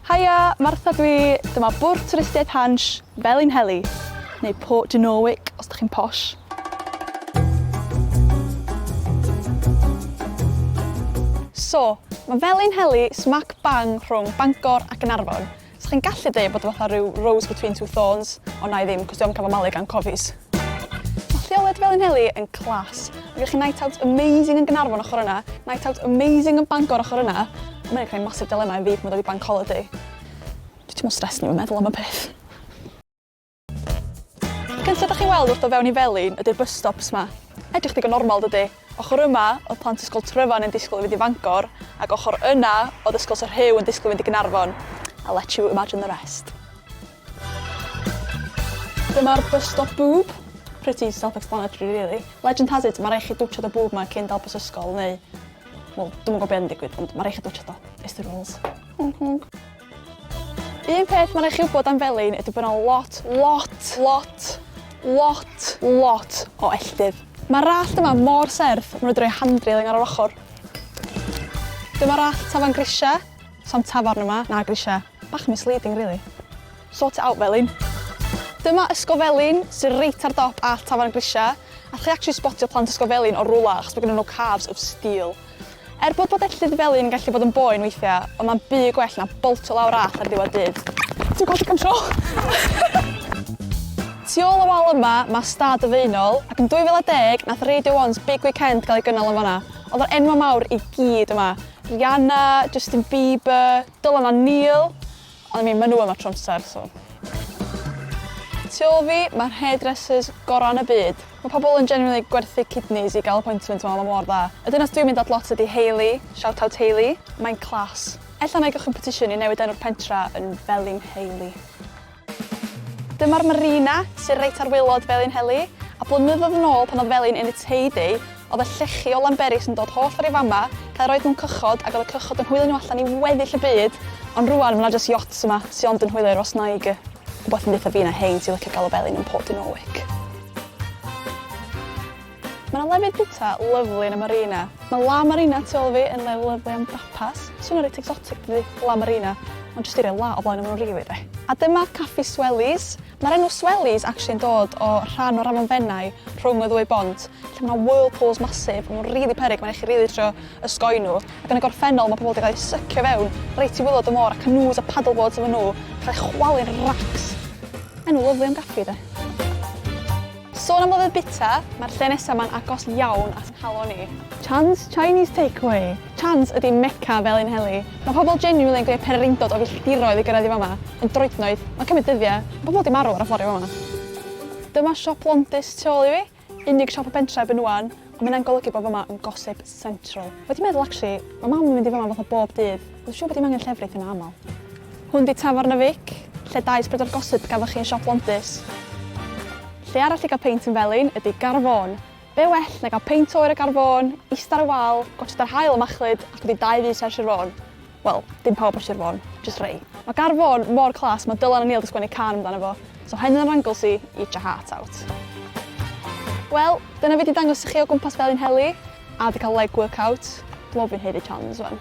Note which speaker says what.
Speaker 1: Haia, Martha dw i, dyma bwrdd twristiaeth Hansh, Felinheli, neu Port de Norwich os dych chi'n posh. So, mae Felinheli smac bang rhwng Bangor a Gaernarfon, so chi'n gallu deud bod o fatha rhyw rose between two thorns, ond na i ddim, cos dwi am cael fy malu gan cofis. lleoliad Felinheli yn class. Mae gennych chi night out amazing yn Gynarfon ochr yna, night out amazing yn Bangor ochr yna. Ond mae'n creu massive dilemma i fi pan mae dod i bank holiday. Dwi ti'n mwyn stres ni yn meddwl am y peth. Cyntaf ydych chi'n weld wrth o fewn i Felin ydy'r bus stops ma. Edrych digon normal dydy. Ochr yma oedd plant ysgol Tryfan yn disgwyl i fynd i Fangor ac ochr yna oedd ysgol Sir Rhyw yn disgwyl i fynd i Gynarfon. I'll let you imagine the rest. Dyma'r bus stop bŵb. Pretty self explanatory really. Legend has it ma rai' chi dwtshad y bŵb ma cyn dal bus ysgol neu wel dwi'm yn gwbo be yn digwydd ond ma rai' chi dwtshad o. It's the rules. Honk honk. Un peth ma rai' chi wbod am Felin ydi bo na lot lot lot lot lot o elltydd. Ma'r allt yma mor serth ma nw 'di roi handrailing ar yr ochor. Dyma'r allt tafarn grisia. Sa'm tafarn yma, na grisia. Bach misleading rili. Sort it out Felin. Dyma Ysgol Felin sy reit ar dop all tafarn grisia. Allwch chi actually sbotio plant Ysgol Felin o rwla achos bod gennyn nhw calves of steel. Er bod bod Ellydd Felin yn gallu bod yn boen weithia, ond ma'n byd gwell na boltio lawr all ar diwedd dydd. Dwi'n colli control! Tu ôl y wal yma ma stad y Faenol, ac yn 2010 nath Radio One's Big Weekend gael ei gynnal yn fanna. Oedd yr enwau mawr i gyd yma. Rihanna, Justin Bieber, Dylan a Neil. Ond I mean, maen nhw yma tro amser, so. Tu ôl fi, mae'r hairdressers gorau yn y byd. Mae pobl yn genuinely gwerthu kidneys i gael appointment yma, mae mor dda. Y dynas dwi'n mynd at lot ydy Hayley, shout out Hayley, mae'n class. Ella wna i gychwyn petition i newid enw'r pentra yn Felin Hayley. Dyma'r marina, sydd reit ar waelod Felinheli, a blynyddoedd yn ôl pan oedd Felin in its heyday, oedd y llechi o Lanberis yn dod holl ffordd i fama, cael yr oed mewn cychod ac oedd y cychod yn hwylio nhw allan i weddill y byd, ond rwan mae 'na jyst yachts yma sy ond yn hwylio i'r wasnaig, wbath yn deutha fi na hein sy'n licio galw Felin yn Port Dinorwic. Mae yna lefydd bwyta lyfli yn y Marina. Mae La Marina tu ôl fi yn le lyfli am dapas. Swnio reit exotic dydi? La Marina. Ond jyst eiriau la o flaen y mro rili de. A dyma Caffi Swellies. Mae'r enw Swellies actually yn dod o rhan o'r afon Fenai rhwng y ddwy bont lle mae yna whirlpools masif, maen nhw'n rili peryg, mae'n eich chi rili trio ysgoi nhw. Ac yn y gorffennol mae pobl wedi cael eu sycio fewn reit i wylod y môr a canoes a paddleboards efo nhw, cael eu chwalu'n racs. Enw lyfli am gaffi de. Sôn am lyfr bita, mae'r lle nesaf ma'n agos iawn at nghalon i. Chan's Chinese Takeaway! Chan's ydi Mecca Felin Heli. Mae pobl genuinely yn gwneud perereindod o filltiroedd i gyrraedd i fama, yn droednoeth, mae'n cymryd dyddiau, mae pobl 'di marw ar y ffordd i fama. Dyma siop Londis tu ôl i fi, unig siop y pentre erbyn ŵan, Ond mae hynna'n golygu bod fy mam yn gossip central. Wedi meddwl actually, mae mam yn mynd i fy mam fatha bob dydd. Dwi'n siŵr bod dim angen llefrith yna aml. Hwn di Tafarn y Fic, lle daeth bryd o'r gossip gafoch chi yn Siop Londis. Lle arall i gael peint yn Felin ydi Gar Fôn. Be well na gael peint oer y Gar Fôn, ista ar y wal, gwatsiad yr haul yn machlud ac wedi dau fys ar Sir Fôn. Wel, dim pawb ar Sir Fôn, jyst rhei. Mae Gardd Fôn mor class, mae Dylan a Neil 'di sgwennu cân amdano fo, so hyn yn yr Anglesey, eat your heart out. Wel, dyna fi 'di dangos i chi o gwmpas Felin Heli, a 'di cael leg workout. Dwi'n meddwl fi'n haeddu challenges wan.